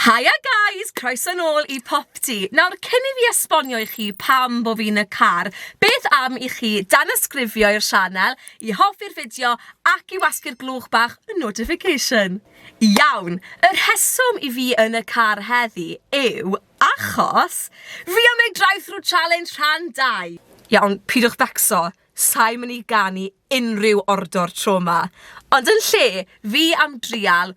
Haia guys! Croeso nôl i Popty! Nawr, cyn i fi esbonio i chi pam bo fi'n y car, beth am i chi danysgrifio i'r sianel, i hoffi'r fideo ac i wasgu'r glwch bach y notification? Iawn! Y rheswm i fi yn y car heddi yw achos fi am neud drive-thru challenge rhan dau! Iawn, pidwch becso, sai'n mynd i ganu unrhyw ordor tro 'ma, ond yn lle fi am drial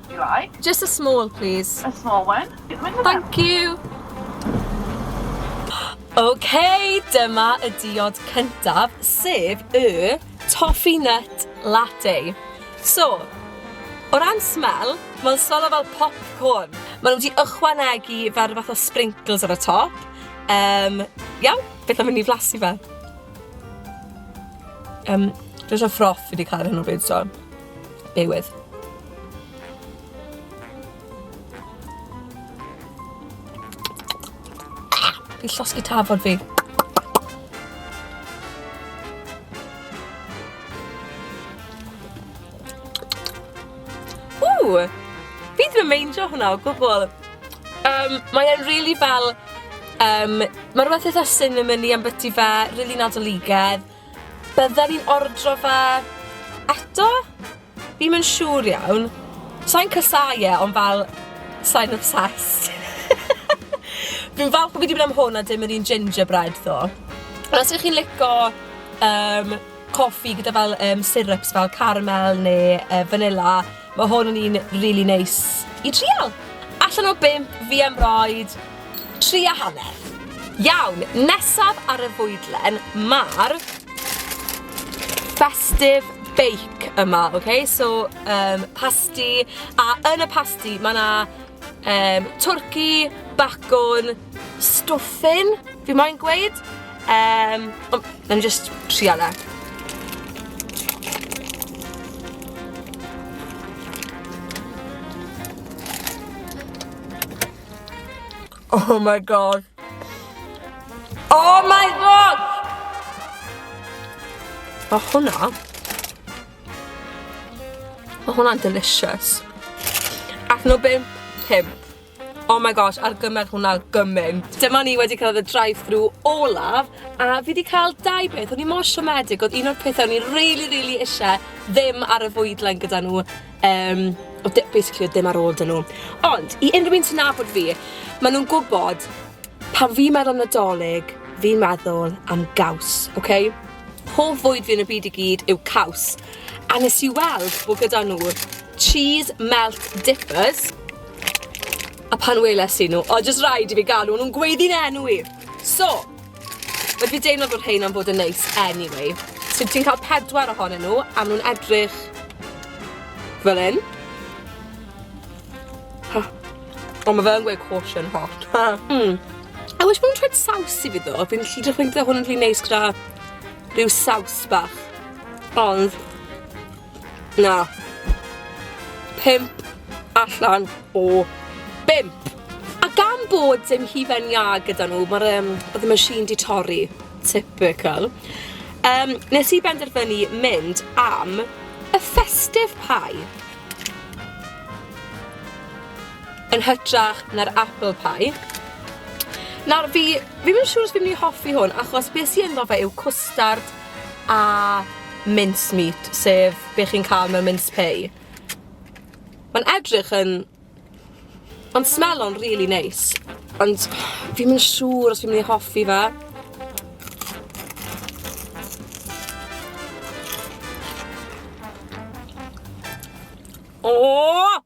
Do you like? Just a small, please. A small one? Thank you! OK, dyma y diod cyntaf, sef y Toffee Nut Latte. So, O ran smell, mae'n solo fel popcorn. Mae nhw wedi ychwanegu fel rhywbeth o sprinkles ar y top. Um, iawn, beth am mynd i flasu fe? Um, Dwi'n siarad ffroff fi wedi cael hyn o bryd, so. Bewydd. Fi llosgi tafod fi. Ww! Fi ddim yn meindio hwnna o gwbl. Um, mae e'n really fel... Um, mae rhywbeth eitha cinnamony am byti fe, really nadoligedd. Bydden i'n ordro fe eto? Fi'm yn siŵr iawn. Sai'n casau e ond fel sai'n obsessed. Fi'n falch bo fi 'di myn' am hwn a dim yr un gingerbread tho. Ond os 'yf chi'n lico yym coffi gyda fel yym syrups fel caramel ne' yy fanilla Mae hwn yn un really neis i trial. Allan o bimp, fi am roed tri a hanner. Iawn, nesaf ar y fwydlen, mae'r festive bake yma, oce? Okay? So, um, pasti, a yn y pasti mae yna um, twrci, bacwn, Stuffing, fi moyn gweud. Yym, o, nawn ni jyst trial e. Oh my god. Oh my god! Mae hwnna... Mae hwnna'n delicious. Allan o bump, pump. Oh my gosh, argymell hwnna gymaint. Dyma ni wedi cael y drive-thru olaf, a fi wedi cael dau beth. O'n i mor siomedig, oedd un o'r pethau o'n i really, really eisiau ddim ar y fwydlen gyda nhw. Um, o, basically, oedd ddim ar ôl dyn nhw. Ond, i unrhyw un sy'n nabod fi, maen nhw'n gwybod pan fi'n meddwl am nadolig, fi'n meddwl am gaws, oce? Okay? Hoff fwyd fi yn y byd i gyd yw caws. A nes i weld bod gyda nhw cheese melt dippers, A pan weles i nhw, oedd jyst rhaid i fi galw nhw'n gweiddi'n enw i! So, rydw i'n deimlo bod rhein am fod yn neis anyway. So ti'n cael pedwar ohonyn nhw a maen nhw'n edrych fel hyn. Huh. Ond mae fe yn gweud caution hot. mm. I wish maen nhw'n trwy'n saws i fi ddo. Fi'n lli dechrau gyda hwn yn rhy neis gyda rhyw saws bach. Ond Na. Pump allan o bump. A gan bod dim hufen iâ gyda nhw, mae'r um, oedd y machine di torri. Typical. Um, nes i benderfynu mynd am y festive pie. Yn hytrach na'r apple pie. Nawr fi, fi'n mynd siŵr os fi'n mynd i hoffi hwn, achos beth sy'n ynddo fe yw cwstard a mince meat sef be' chi'n ca'l mewn mince pie. Ma'n edrych yn ma'n smelo'n rili neis ond fi'm yn siŵr os fi myn' i hoffi fe. Ooh!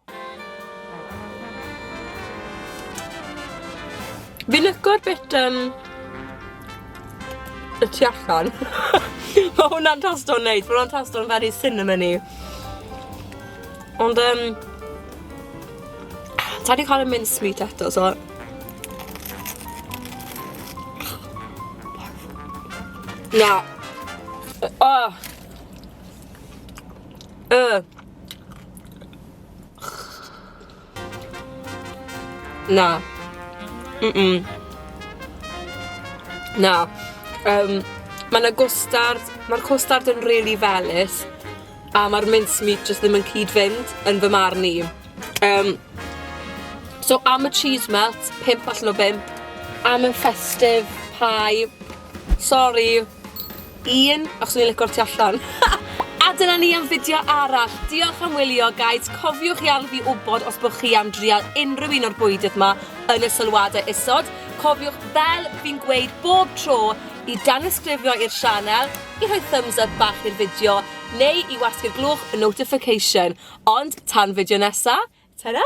Fi licio'r bit um, y tu allan. Mae hwnna'n tasto'n neis, mae hwnna'n tasto'n very cinnamony. Ond um, ta wedi cael y mince meat eto, so... Na. Oh. Uh. Na. Mm-mm. Na. Yym, ma' 'na gwstard, ma'r cwstard yn rili felys, a ma'r mincemeat jyst ddim yn cyd-fynd, yn fy marn i. Yym, so am y cheese melt, pump allan o bump. Am y festive pie, sori, Ian, o swn i'n lico'r tu allan. A dyna ni am fideo arall. Diolch am wylio guides, cofiwch i adl fi wbod os bo chi am drial unrhyw un o'r bwydydd ma yn y sylwadau isod. Cofiwch fel fi'n gweud bob tro i danysgrifio i'r sianel, i rhoi thumbs up bach i'r fideo neu i wasgu'r glwch notification. Ond tan fideo nesa, tara!